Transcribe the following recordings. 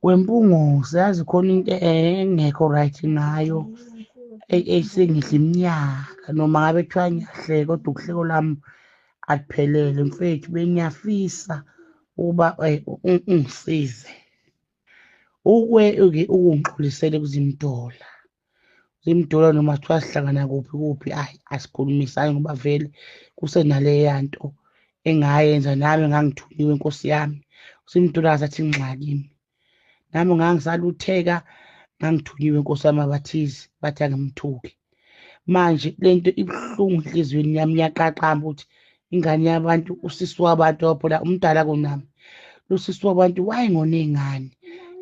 wempungose yazi khona into engekho right ngayo esengidla iminyaka noma ngabe kuthiwa ngiyahleka kodwa ukuhleko lami akuphelele mfethu bengiyafisa ukuba eh, ungisize ukwe-ke ukungixolisele kuzimdola zimdula noma kuthiwa sihlangana kuphi kuphi ayi asikhulumisani ngoba vele kusenaleya nto engayenza nami ngangithunyiwe nkosi yami simdula sathi ngxakimi nami ngangisalutheka ngangithunyiwe nkosi yami abathizi bathi angimthuki manje lento ibuhlungu enhliziyweni yami yaqaqamba ukuthi ingane yabantu usisi wabantu waphula umdala kunami losisi wabantu wayengona ingane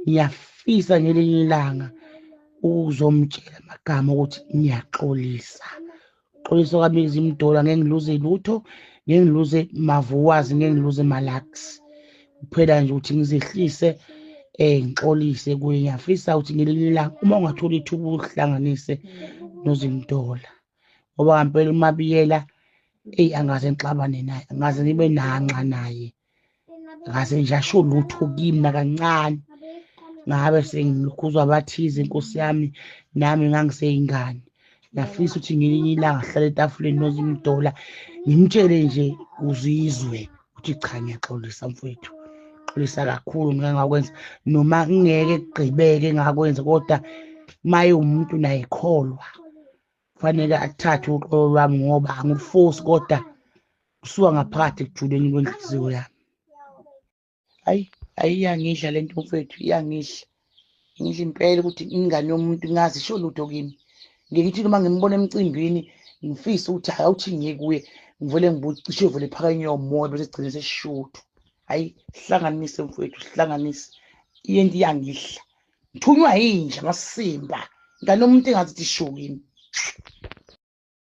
ngiyafisa ngelinye ilanga ukuzomtshela amagama ukuthi ngiyaxolisa xolisa kwami izimdola ngeke ngiluze lutho ngeke ngiluze mavuwazi ngeke ngiluze malax kuphela nje ukuthi ngizehlise eh ngixolise kuye ngiyafisa ukuthi ngelinye ilanga uma ungathola ithuba uhlanganise nozimdola ngoba ngampela umabiyela eyi angaze ngixabane naye angaze ngibe nanxa naye ngaze nje asho lutho kimi nakancane ngabe sengilukhuzwa abathize inkosi yami nami ngangiseyingane ngiyafisa ukuthi ngelinye ilanga sihlale etafuleni nozimdola ngimtshele nje uzizwe ukuthi cha ngiyaxolisa mfowethu xolisa kakhulu ngike ngakwenza noma kungeke kugqibeke ngakwenza kodwa maye umuntu naye kholwa kufanele athathe uxolo lwami ngoba angilufosi kodwa kusuka ngaphakathi ekujuleni kwenhliziyo yami hayi hayi iyangidla le nto mfethu iyangidla ngidla impela ukuthi ingane yomuntu ngazi isho lutho kimi ngikithi noma ngimbona emcimbini ngifise ukuthi hayi awuthi ngiye kuye ngivele ngibucishe vele phaka inyomoya bese gcine sesishuthu hayi hlanganise mfowethu hlanganise iyento iyangidla ngithunywa yinja ngasisimba ngane umuntu engathi tishuki